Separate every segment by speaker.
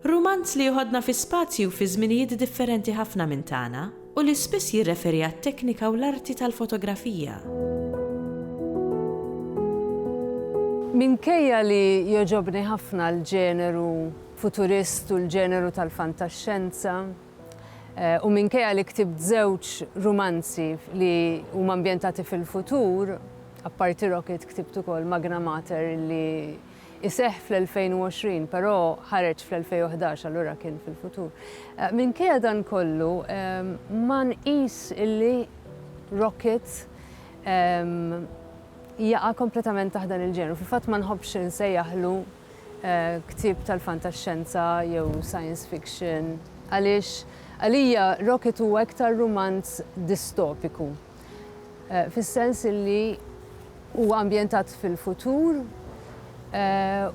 Speaker 1: Rumanz li joħodna fi spazji u fi żminijiet differenti ħafna minn tagħna u li spiss jirreferi għat-teknika u l-arti tal-fotografija.
Speaker 2: Minkejja li jogħġobni ħafna l-ġeneru futurist u l-ġeneru tal-fantaxxenza, u minkejja li ktibt żewġ rumanzi li huma ambjentati fil-futur, apparti Rocket ktibt ukoll Magna Mater li iseħħ fl-2020, però ħareġ fl-2011, allura kien fil-futur. Eh, minkejja dan kollu, ehm, ma nqis illi Rocket ehm, jaqa kompletament taħt dan il-ġenru. Fil-fatt ma nħobbx insejjaħlu eh, ktib tal-fantaxxenza jew science fiction għaliex għalija Rocket huwa iktar rumanz distopiku. fis-sens li huwa ambjentat fil-futur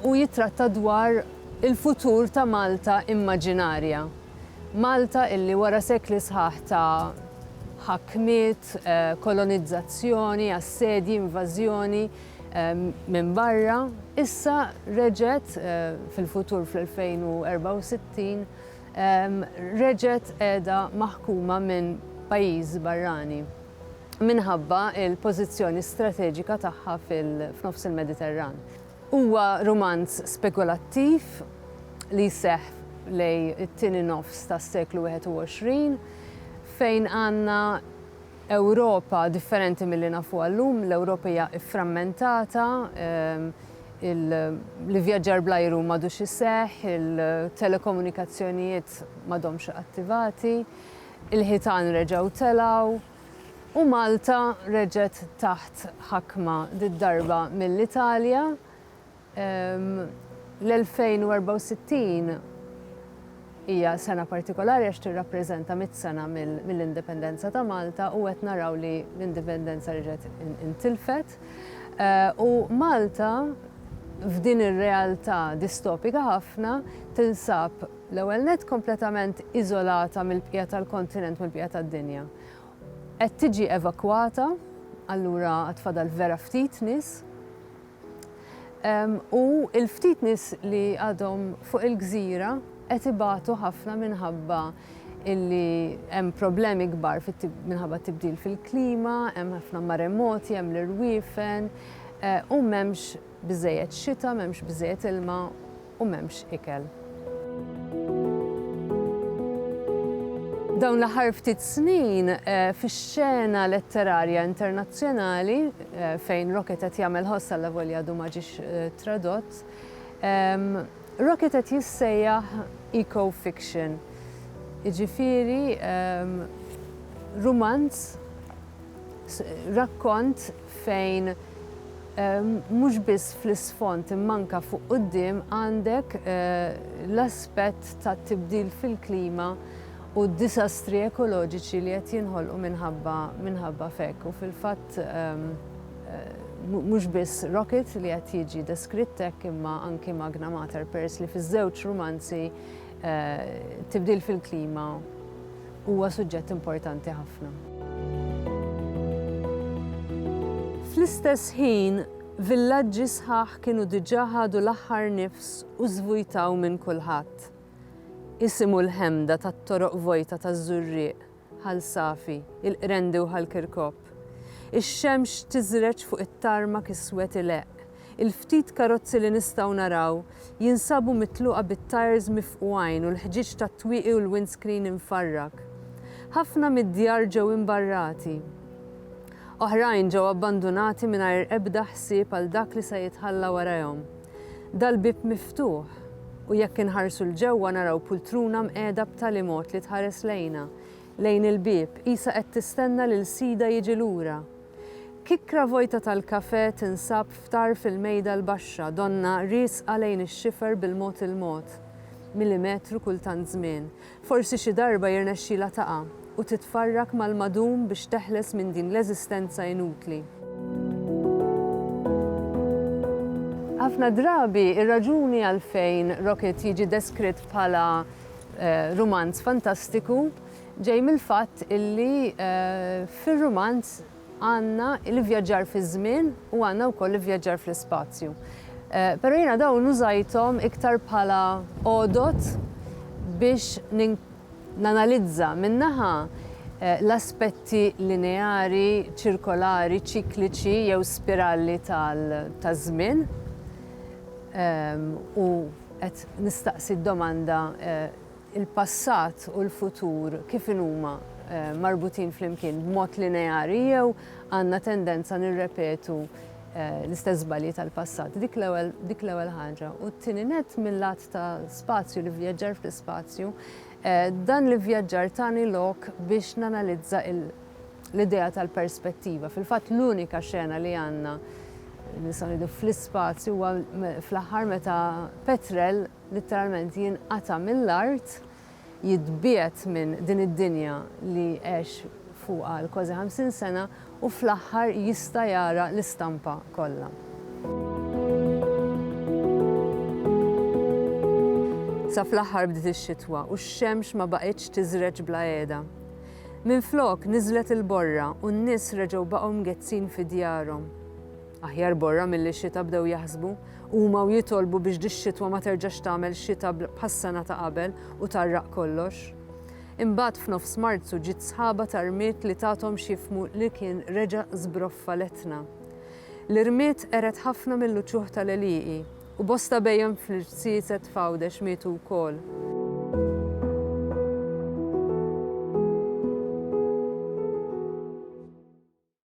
Speaker 2: u jittratta dwar il-futur ta' Malta immaġinarja. Malta illi wara sekli sħaħ ta' ħakmiet, kolonizzazzjoni, assedji, invażjoni minn barra, issa reġgħet fil-futur fl-2064, reġgħet qiegħda maħkuma minn pajjiż barrani minħabba l-pożizzjoni strateġika tagħha f'nofs il-Mediterran. Huwa rumanz spekulattiv li jseħħ lejn it-tieni nofs tas-seklu 21 fejn għandna Ewropa differenti milli nafuha llum. L-Ewropa hija fframmentata, l-ivvjaġġar bl-ajru m'għadux iseħħ, il-telekomunikazzjonijiet m'għadhomx attivati, il-ħitan reġgħu telgħu u Malta reġgħet taħt ħakma, did-darba mill-Italja L-2064 hija sena partikolari għax tirrappreżenta mitt sena mill-Indipendenza ta' Malta u qed naraw li l-Indipendenza reġgħet intilfet. U Malta f'din ir-realtà distopika ħafna tinsab l-ewwel nett kompletament iżolata mill-bqija tal-kontinent, mill-bqija tad-dinja. Qed tiġi evakwata, allura għad fadal vera ftit nies. U l-ftit nies li għadhom fuq il-gżira qed ibatu ħafna minħabba illi hemm problemi kbar minħabba t-tibdil fil-klima, hemm ħafna maremoti, hemm l-irwiefen, u m'hemmx biżżejjed xita, m'hemmx biżżejjed ilma. u m'hemmx ikel. Dawn l-aħħar ftit snin, fix-xena letterarja internazzjonali, fejn Rocket qed jagħmel ħoss allavolja għadu ma ġiex tradott, Rocket qed jissejjaħ eco-fiction, jiġifieri rumanz Rakkont fejn mhux biss fl-isfond imma anke fuq quddiem għandek l-aspett tat-tibdil fil-klima u d-disastri ekoloġiċi li qed jinħolqu minħabba f'hekk. U fil-fatt mhux biss Rocket li qed jiġi deskritt hekk imma anki Magna Mater peress li fiż-żewġ rumanzi Tibdil fil-klima huwa suġġett importanti ħafna. Fl-istess ħin, villaġġi sħaħ kienu diġà ħadu l-aħħar nifs u żvujtaw minn kulħadd. Isimgħu l-ħemda tat-toroq vojta taż-żurrieq Ħal Safi, il-Qrendi u Ħal Kirkop. Ix-xemx tiżreġ fuq it-tarmak iswed ileqq. Il-ftit karozzi li nistgħu naraw jinsabu mitluqa bit-tajers mifqugħin u l-ħġieġ tat-twieqi u l-windscreen imfarrak. Ħafna mid-djar ġew imbarrati. Oħrajn ġew abbandunati mingħajr ebda ħsieb għal dak li se jitħalla warajhom. Dal-bieb miftuħ, u jekk inħarsu 'l ġewwa naraw pultruna mqiegħda b'tali mod li tħares lejna, lejn il-bieb, qisha qed tistenna lil sidha jiġi lura. Kikkra vojta tal-kafè tinsab f'tarf il-mejda l-baxxa, donnha riesqa lejn ix-xifer bil-mod il-mod, milimetru kull tant żmien, Forsi xi darba jirnexxilha taqa' u titfarrak mal-madum biex teħles minn din l-eżistenza inutli. Ħafna drabi, ir-raġuni għalfejn Rocket jiġi deskritt bħala rumanz fantastiku ġej mill-fatt illi fir-rumanz, Għandna l-ivvjaġġar fiż-żmien u għandna wkoll l-ivvjaġġar fl-ispazju. Però jiena dawn użajthom iktar bħala għodod biex nanalizza, minn naħa, l-aspetti lineari, ċirkolari, ċikliċi jew spiralli taż-żmien, u qed nistaqsi d-domanda, il-passat u l-futur kif inhuma marbutin flimkien b'mod lineari jew għandna tendenza nirrepetu l-istess żbalji tal-passat. Dik l-ewwel dik l-ewwel ħaġa. U t-tieni nett mil-lat ta' spazju, l-ivvjaġġar fl-ispazju, dan l-ivvjaġġar tani lok biex nanalizza l-idea tal-perspettiva. Fil-fatt l-unika xena li għandna nistgħu ngħidu fl-ispazju huwa fl-aħħar meta Petrel, litteralment jinqata' mill-art, jitbiegħed minn din id-dinja li għex fuqha għal kważi ħamsin sena u fl-aħħar jista' jara l-istampa kollha. Sa fl-aħħar bdiet ix-xitwa u x-xemx ma baqgħetx tiżreġ bla qiegħda. Minflok, niżlet il-borra u n-nies reġgħu baqgħu mgezzin fi djarhom. Aħjar borra milli xita bdew jaħsbu huma u jitolbu biex dix-xitwa ma terġax tagħmel xita bħas-sena ta' qabel u tgħarraq kollox. Imbagħad f'nofs Marzu ġiet sħaba ta' rmied li tathom x'jifhmu li kien reġa' żbroffa l-Etna. L-irmied qered ħafna mill-uċuħ tal-għelieqi u bosta bhejjem fl-irziezet f'Għawdex mietu wkoll.